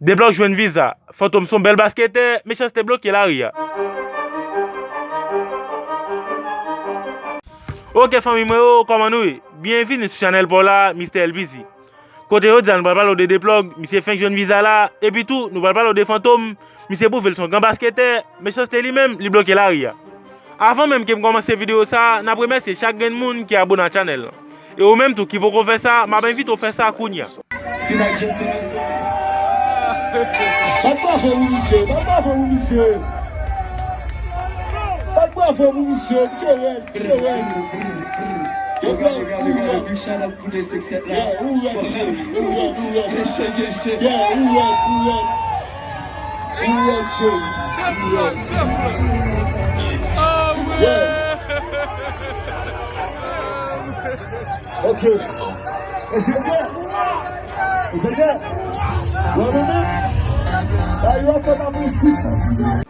Deblòk w jwenn viza. Fantom son bèl basketè, mechanste bloke lari a. Ok fanmi mwen yo kòman nou ye? Byenvini sou chanèl paw la Mister LPC Kote jodi a nou pral pale w de Deplòg misye fenk jwenn viza la epi tou nou pral pale w de Fantom misye pwouve l son gran basketè mechanste li menm li bloke lari a. Avan menm kem kòmanse video sa nap remèsye chak grenn moun ki abone a channel lan e ou menm tou ki poko fè sa map envite w fè sa kounya.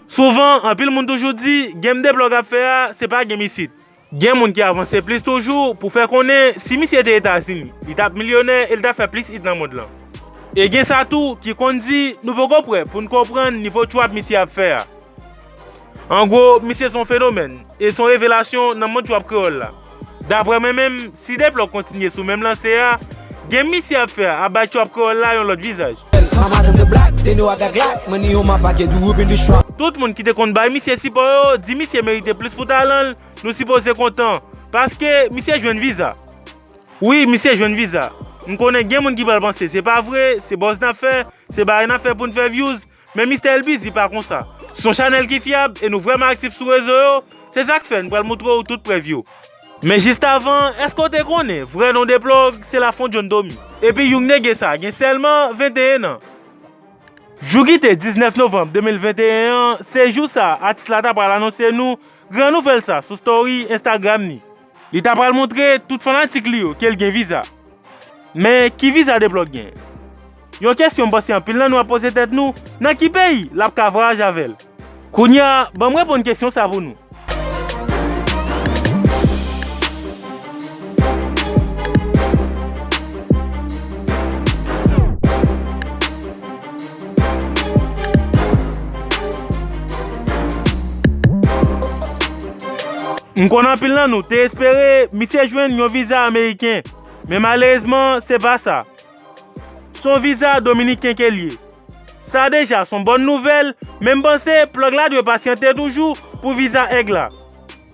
Souvan, anpil moun toujou di, Game de blòg ap fè a, se pa Game isit. Gen moun ki avanse plis toujou pou fè konnen si misye te Etazini, li t ap milyonè e li t ap fè plis it nan mond lan. E gen sa tou ki konn di nou poko prè pou n konprann nivo trap misye ap fè a. An gwo, misye se yon fenomèn e se yon revelasyon nan mond trap kreyòl la. Daprè mwen menm, Si Deplò kontinye sou menm lanse a, gem misye ap fè a ap bay trap kreyòl la yon lòt vizaj. Tout moun ki te konn bay misye sipò yo di misye merite plis pou talan l, nou sipoze kontan, paske misye jwenn viza. Wi, misye jwenn viza. M konnen gen moun ki pral panse se pa vre, se buzz n ap fè, se bagay n ap fè pou n fè vyouz, Men Mistè El Busy pa konsa. Se yon chanèl ki fyab e nou vrèman aktif sou rezo yo, se sa k fè n pral montre w tout prèv yo. Men jis avan, èske w te konnen vrè non Deplòg se Lafon John Domi? Epi young nege sa gen sèlman 21 an. Jou ki te 19 novanm 2021 an, se jou sa atis la ta pral anonse nou gran nouvèl sa sou story Instagram ni. Li ta pral montre tout fanatik li yo ke l gen viza. Men, ki viza Deblòk gen? Yon kesyon m panse anpil nan nou ap poze tèt nou, nan ki peyi l ap ka vwayaje avè l? Kounye a, ban m reponn kesyon sa pou nou. M konn anpil nan nou te espere misye jwenn yon viza ameriken, men malerezman se pa sa. Son viza dominiken ke l ye. Sa deja son bòn nouvèl, men m panse plòg la dwe pasyante toujou pou viza èg la.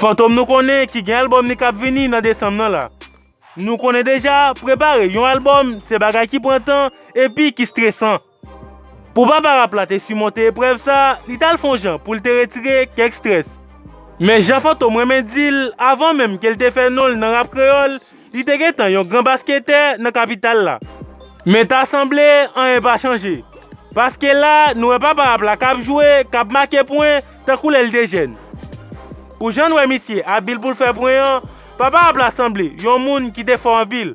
Fantom nou konnen ki gen album li kap vini nan desanm nan la. Nou konnen deja prepare yon album se bagay ki pran tan epi ki stresan. Pou papa rap la te simonte eprèv sa, li t al fon jan pou l te retire kèk strès. Men jan Fantom renmen di l, avan menm ke l te fè non l nan rap kreyòl, li te gentan yon gran basketè nan kapital la. Men ta sanble, anyen pa chanje. Paske la, nou wè papa rap la k ap jwe, k ap make pwen, tankou lè l te jèn. Pou jan n wè misye abil pou l fè pwen an, papa rap la sanble yon moun ki te fò anpil.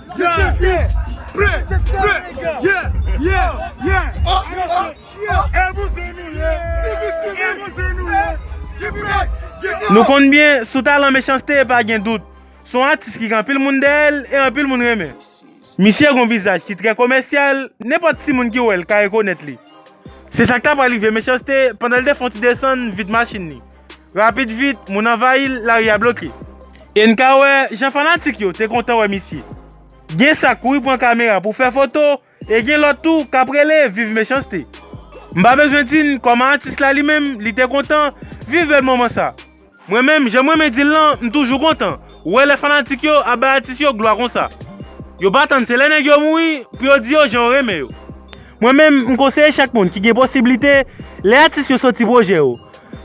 Gade! Pre! Pre! Ye! Ye! Ye! E pou se nou ye! E pou se nou ye! Ki pre! Ki pre! Nou konn byen, sou talan Mechans-T pa gen dout. Se yon atis ki gen anpil moun dèyè l e anpil moun renmen. Misye gen yon vizaj ki trè komèsyal, nenpòt timoun ki wè l ka rekonèt li. Se sa k ta pral rive Mechans-T pandan l te fè yon ti desann vit machin li. Rapid vit, moun anvayi l, lari a bloke. E n ka wè jan fanatik yo te kontan wè misye. Gen sa k kouri pran kamera pou fè foto e gen lòt tou k ap rele viv mechanste. M pa bezwen di n kòman atis la li menm li te kontan viv bèl moman sa. Mwen menm, jan m renmen di l lan, m toujou kontan wè lè fanatik yo ap bay atis yo glwa konsa. Yo pa tann se lè nèg yo mouri pou yo di yo jan yo renmen yo. Mwen menm, m konseye chak moun ki gen posiblite lè atis yo soti pwojè yo,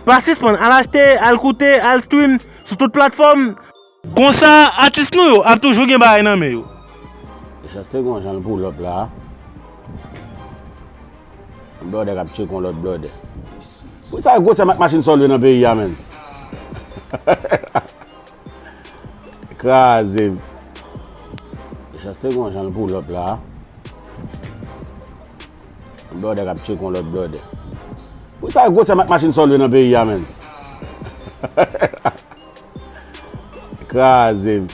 Pa sispann al achte, al koute, al stream sou tout platfòm. Konsa atis nou yo ap toujou gen bagay nan men yo. Mechans te gen yon jan l pull up la. Yon blòdè kap tcheke yon lòt blòdè. Pou sa gwosè mak machin sa w lwe nan peyi a menm? Kraze m. Mechans te gen yon jan l pull up la. Yon blòdè kap tcheke yon lòt blòdè. Ou sa gwosè mak machin sòl yo nan peyi a menn. Krazem.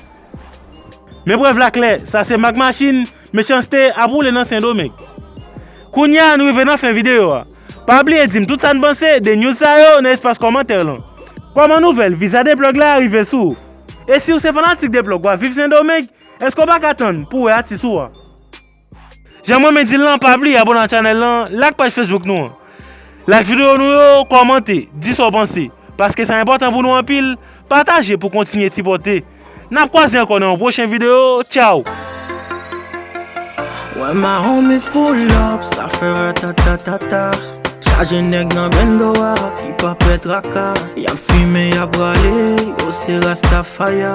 Men prèv la klè, sa se mak machin Mechanste ap woule nan Sendomeng. Kounye a nou rive nan fen videyo a. Pa bliye dim tout sa n panse de news sa yo nan espas kòmantè lan. Kòman nouvèl viza Deplug la rive sou ou? E siw se fanatik Deplug wap viv Sendomeng, eske w paka tann pou wè atis ou a? Jan m renmen di l lan, pa bliye abone ak chanèl lan, like paj Facebook nou an. Like videyo nou yo, kòmante, di sa w panse. Paske sa enpòtan pou nou anpil, pataje pou kontinye sipòte. N ap kwaze ankò nan yon pwochen videyo, tchaww! Wè ma homies pull up, sa fè ratatatata Chaje nèg nan bendo a, ki pa pè traka Yap fimen, yap rale, yo se rastafaya